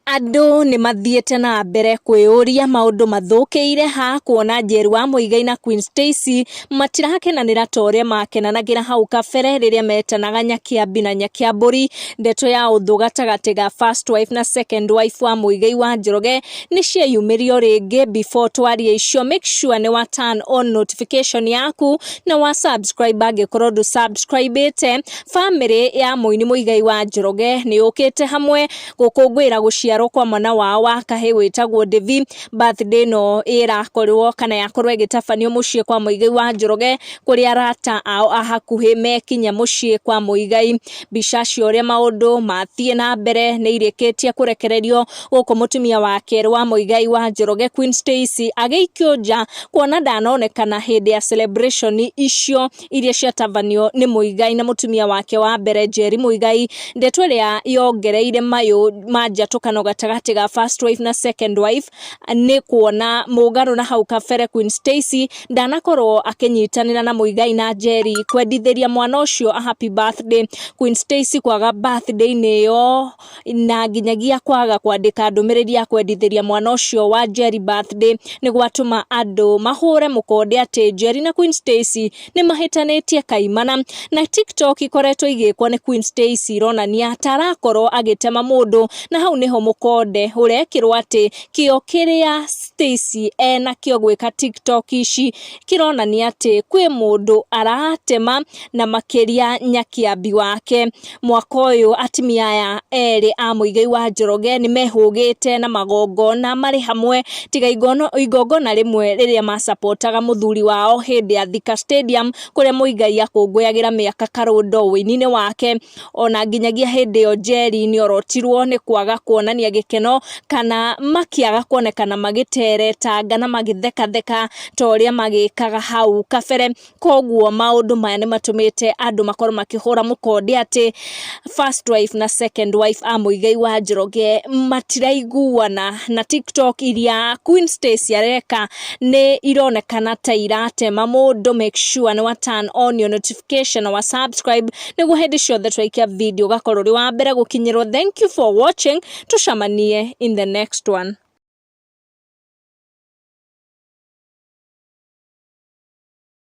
Andũ nĩ mathiĩte na mbere kwĩyũria maũndũ mathũkĩire ha kuona Njerua Muigai na Queen Stacy matirakenanĩra ta ũrĩa makenanagĩra hau kabere rĩrĩa metanaga Nyakĩambi na Nyakĩambũri. Ndeto ya ũthũ gatagatĩ ga first wife na second wife wa Muigai wa Njoroge nĩ cieyumĩria o rĩngĩ. Before twarie icio make sure nĩ wa turn on notification yaku na wa subscribe angĩkorwo ndũ subscribĩte. Bamĩrĩ ya mũini Muigai wa Njoroge nĩ yũkĩte hamwe. gũkũngũĩra gũciarwo kwa mwana wao wa kahĩ wĩtagwo Devi. Birthday ĩno ĩrakorwo kana yakorwo ĩgĩtabanio mũciĩ kwa Mũigai wa Njoroge kũrĩa arata ao a hakuhĩ mekinya mũciĩ kwa Mũigai. Mbica cia ũrĩa maũndũ mathiĩ na mbere nĩ irĩkĩtie kũrekererio gũkũ mũtumia wa kerĩ wa Mũigai wa Njoroge Queen Stacy agĩikio nja kuona ndanonekana hĩndĩ ya celebration icio. iria ciatabanio nĩ Muigai na mũtumia wake wa mbere Njeri Muigai, ndeto ĩrĩa yongereire mayũ ma njatũkano gatagatĩ ga first wife na second wife nĩ kuona mũgarũ na hau kabere Queen Stacy ndanakorwo akĩnyitanĩra na Muigai na Njeri kwendithĩria mwana ũcio a happy birthday, Queen Stacy kwaga birthday-inĩ ĩyo na nginyagia kwaga kwandĩka ndũmĩrĩri ya kwendithĩria mwana ũcio wa Njeri birthday nĩ gwatũma andũ mahũre mũkonde atĩ Njeri na Queen Stacy nĩ mahĩtanĩtie kaimana na TikTok ikoretwo igĩkwo nĩ Queen Stacy ironania ta arakorwo agĩtema mũndũ na hau nĩho mũkonde ũrekĩrwo atĩ kĩo kĩrĩa Stacy enakĩo gwĩka TikTok ici kĩronania atĩ kwĩ mũndũ aratema na makĩria Nyakĩambi wake Mwaka ũyũ atimia aya erĩ a Mũigai wa Njoroge nĩ mehũgĩte na magongona marĩ hamwe tiga igongona rĩmwe rĩrĩa macabotaga mũthuri wao hĩndĩ ya Thika Stadium kũrĩa Mũigai akũngũyagĩra mĩaka Karũndo ũini-inĩ wake. Ona nginyagia hĩndĩ ĩyo Njeri nĩ orotirwo nĩ kwaga kuonania gĩkeno kana makĩaga kuonekana magĩteretanga na magĩthekatheka ta ũrĩa magĩkaga hau kabere. Koguo maũndũ maya nĩ matũmĩte andũ makorwo makĩhũra mũkonde atĩ first wife na second wife a Mũigai wa Njoroge matiraiguana, na TikTok iria Queen Stacy areka nĩ ironekana ta iratema mũndũ. Make sure nĩ wa turn on your notification na wa subscribe nĩguo hĩndĩ ciothe twaikia video ũgakorwo ũrĩ wa mbere gũkinyĩrwo. Thank you for watching, tũcemanie in the next one.